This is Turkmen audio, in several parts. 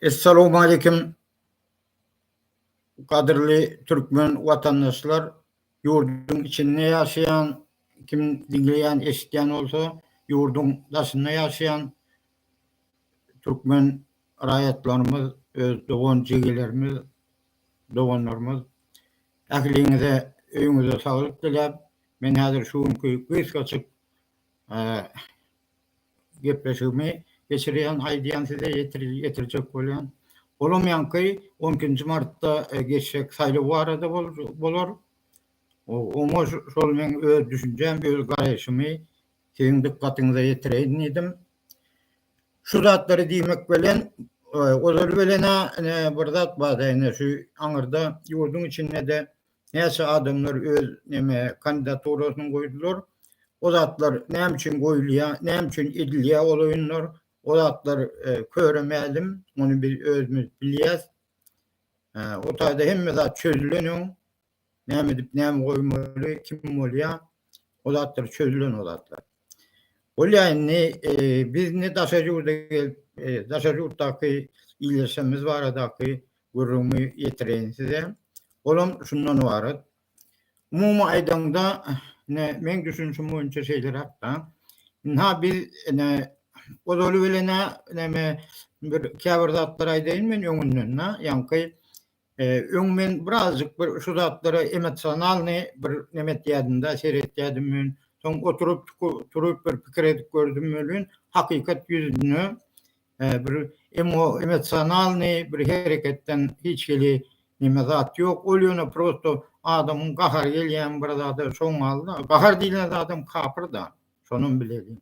Essalowmaleýkim gadyrly türkmen watandaşlar ýurduň içinde ýaşaýan kim diňleýän eşitýän bolsa ýurduň daşynda ýaşaýan türkmen raýatlarymyz öz dogan jigilerimiz doganlarymyz ähliňize öýüňize saglyk diläp men häzir şu günki gysgaçyk Gepleşigimi geçirýän, aýdýan size ýetirjek bolýan. Bolamýanky on ikinji martda geçjek saýlaw barada bolar. Oňa şol meň öz düşünjäm, öz garaýşymy siziň dykgatyňyza ýetireýin diýdim. Şu zatlary diýmek bilen, ozal bilen-ä ine bir zat bar-da, ine şu aňyrda ýurduň içinde-de Näçe adamlar öz neme kandidaturasyny goýdular. O zatlar näme üçin goýulýa, näme üçin edilýä ol oýunlar. O zatlar köre mälim, ony biz özümiz bilýäs. O taýda hemme zat çözülen öň, näme edip näme goýmaly, kim bolýa, o zatlar çözülen o zatlar. Bolýa indi biz ne daşary ýurda gelip daşary ýurtdaky iýleşmemiz baradaky gürrüňi ýetireýin size. Olam şundan ybarat. Umumy aýdaňda ne meň düşünişim boýunça şeýleräkda. Ynha biz ne ozaly bilenä neme bir käbir zatlar aýdaýyn men öňünden-ä ýaňky Öň men birazjyk bir şu zatlara emosionalny bir neme etýädim-de, seretýädim men. Soň oturyp, turup bir pikir edip gördüm welin, hakykat ýüzüne bir emosionalny bir hereketden hiç hili neme zat ýok. Ol ýöne prosto adamyň gahary gelýän bir zada şoňňalda. Gahar diýlen zadam kapyrda. Şonam bileli.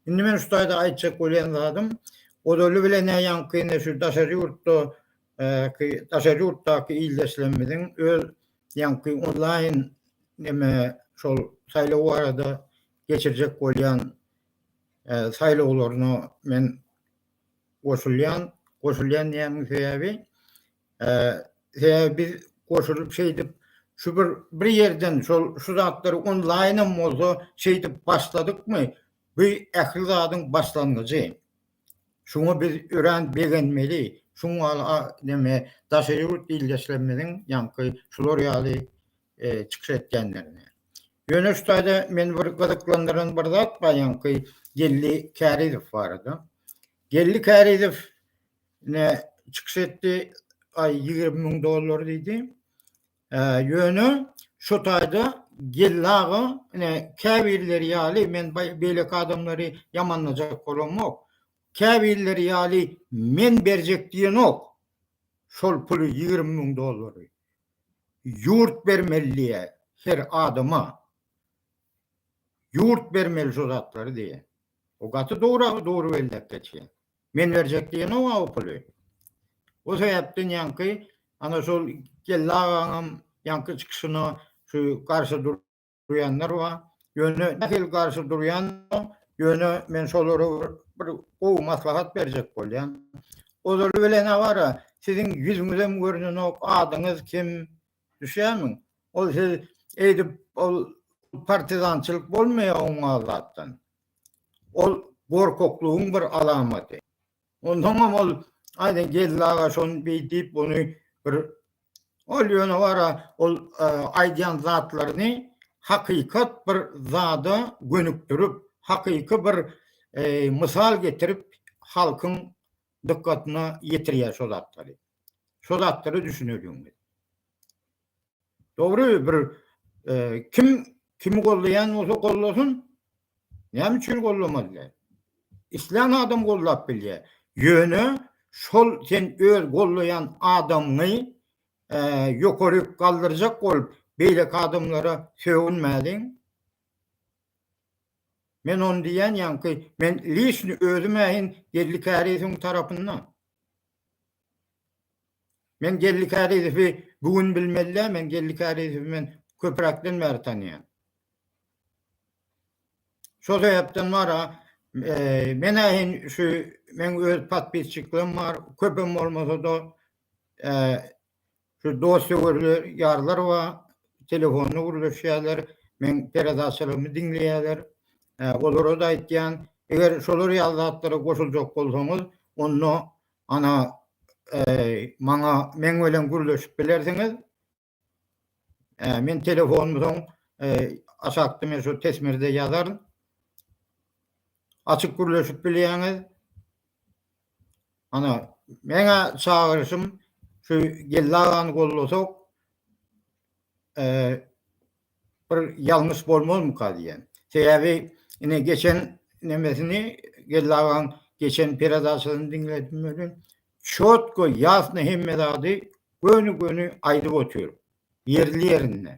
Indi men şu taýda aýtjak bolýan zadym, ozaly bilen-ä ýaňky indi şu daşary ýurtda ki daşary ýurtdaky ildeşlerimiziň öz ýaňky onlaýn neme şol saýlaw barada geçirjek bolýan saýlawlaryna men goşulýan. Goşulýan diýýäniň sebäbi sebäbi biz goşulyp şeýdip şu bir bir ýerden şol şu zatlary onlaýnam bolsa şeýdip başladykmy bu ähli zadyň başlangyjy. Şuňa biz örän begenmeli, şuň gal a neme daşary ýurt ildeşlerimiziň ýaňky şular ýaly çykyş etýänlerine. Ýöne şu taýda meni bir gyzyklandyran bir zat bar ýaňky Geldi Kärizow barada. Geldi Kärizow ne çykyş etdi, aý ýigrimi müň dollar diýdi. Ýöne şu taýda Geldi aga, ine, käbirleri ýaly men beýleki adamlary ýamanlajak bolamok. Käbirleri ýaly men berjek diýenok şol puly ýigrimi müň dollary. Ýurt bermeli diýýä her adama. Ýurt bermeli şu zatlary diýýä. O gaty dogry belläp geçýä. Men berjek diýenok-a o puly. O sebäpden ýaňky ana şol Geldi agaňam ýaňky çykyşyna şu garşy durýanlar bar. Ýöne nähili garşy durýandyr, ýöne men şolara bir gowy maslahat berjek bolýan. Ozaly bilen-ä bar-a, siziň ýüzüňizem görnenok, adyňyz kim, düşýärmiň? Ol siz eýdip ol partizançylyk bolmaýar oňňal zatdan. Ol gorkaklygyň bir alamaty. Onsoňam ol, Aýdyň geldi aga, şony beý diýip, buny bir Ol ýöne wara, ol aýdýan zatlaryny hakykat bir zada gönükdirip, hakyky bir mysal getirip, halkyň dykgatyna ýetirýär şo zatlary. Şo zatlara düşüneliň. Dogry bir kim kimi gollaýan bolsa gollasyn. Näme üçin gollamazlar? Islän adam gollap bilýär. Ýöne şol sen öz gollaýan adamyňy ýokary galdyrjak bolup beýleki adamlara sögünmäliň. Men ony diýýän ýaňky men lişni özüm ähin Geldi Käresiň tarapynda. Men Geldi Kärizowy bu gün bilmeli däl, men Geldi Kärizowy men köpräkden bäri tanýan. Şo sebäpden bar-a, men-ä in şu meň öz podpisçiklerim bar, köpem bolmasa-da, Şu dost-söwerler, ýarlar ba, telefonda gürleşýärler, meň peredaçalarmy diňleýärler. Olara-da aýtýan, eger şolar ýaly zatlara goşuljak bolsaňyz, onda ana maňa meň bilen gürleşip bilersiňiz. Men telefonumy soň aşakda men şu tesmirde ýazaryn. Açyk gürleşip bilýäňiz. Ana, meň-ä çagyryşym şu Geldi agany gollasak, bir ýalňyş bolmazmyka diýýän. Sebäbi ine geçen nemesini, Geldi agaň geçen peredaçasyny diňledim welin, çotko, ýasna hemme zady göni-göni aýdyp otyr, ýerli-ýerinde.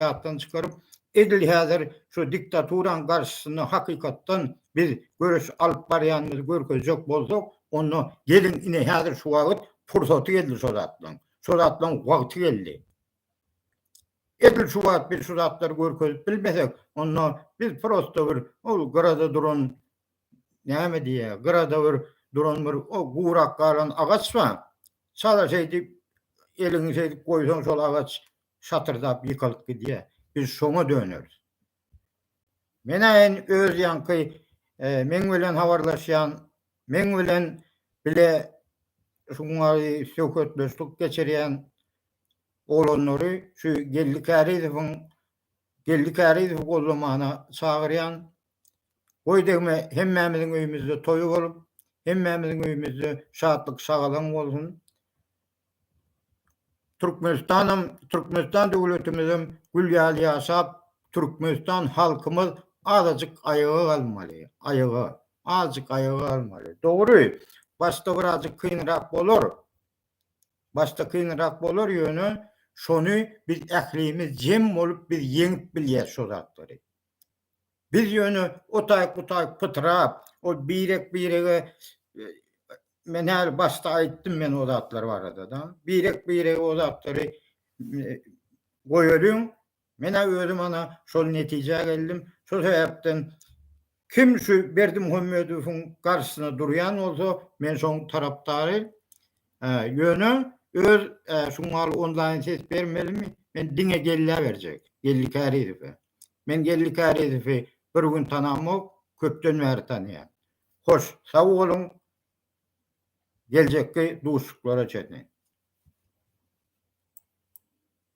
ýatdan çykaryp, edil häzir şu diktaturanyň garşysynda hakykatdan biz göreş alyp barýanymyzy görkezjek bolsak, onda geliň, ine, häzir şu wagt pursaty geldi şo zatlaryň. Şo zatlaryň wagty geldi. Edil şu wagt biz şu zatlary görkezip bilmesek, onda biz prosto bir ol gyrada duran, näme diýýär, gyrada bir duran bir o gurak galan agaç bar. Çala şeýdip, eliňi şeýdip goýsaň, şol agaç şatyrdap ýykylyp gidýär. Biz şoňa döneris. Men-ä in öz ýaňky meň bilen habarlaşýan, meň bilen bile şuňňary söhbetdeşlik geçirýän oglanlary şu Geldi Kärizowyň Geldi Kärizowy gollamana çagyrýan. Goý degme, hemmämiziň öýümizde toý bolup, hemmämiziň öýümizde şatlyk-şagalaň bolsun. Türkmenistanam Türkmenistan döwletimizem gül ýaly ýaşap Türkmenistan halkymyz azajyk aýaga galmaly aýaga azajyk aýaga galmaly dogry başda birazjyk kynrak bolar başda kynrak bolar ýöne şony biz ählimiz jem bolup biz ýeňip bilýäs şo zatlary Biz ýöne otaýk-butaýk pytrap, ol birek-birege men häli başda aýtdym men o zatlar barada-da. Birek-birege o zatlary goýalyň. Men-ä özüm ana şol netijä geldim. Şol sebäpden kim şu Berdimuhamedowyň garşysyna durýan bolsa, men şoň tarapdary. Ýöne öz şuňňaly onlaýn ses bermelimi? Men diňe gelläberjek, Geldi Kärizow. Men Geldi Kärizowy bir gün tanamok, köpden bäri tanaýan. Hoş, sag boluň, geljekki duşuşyklara çenli.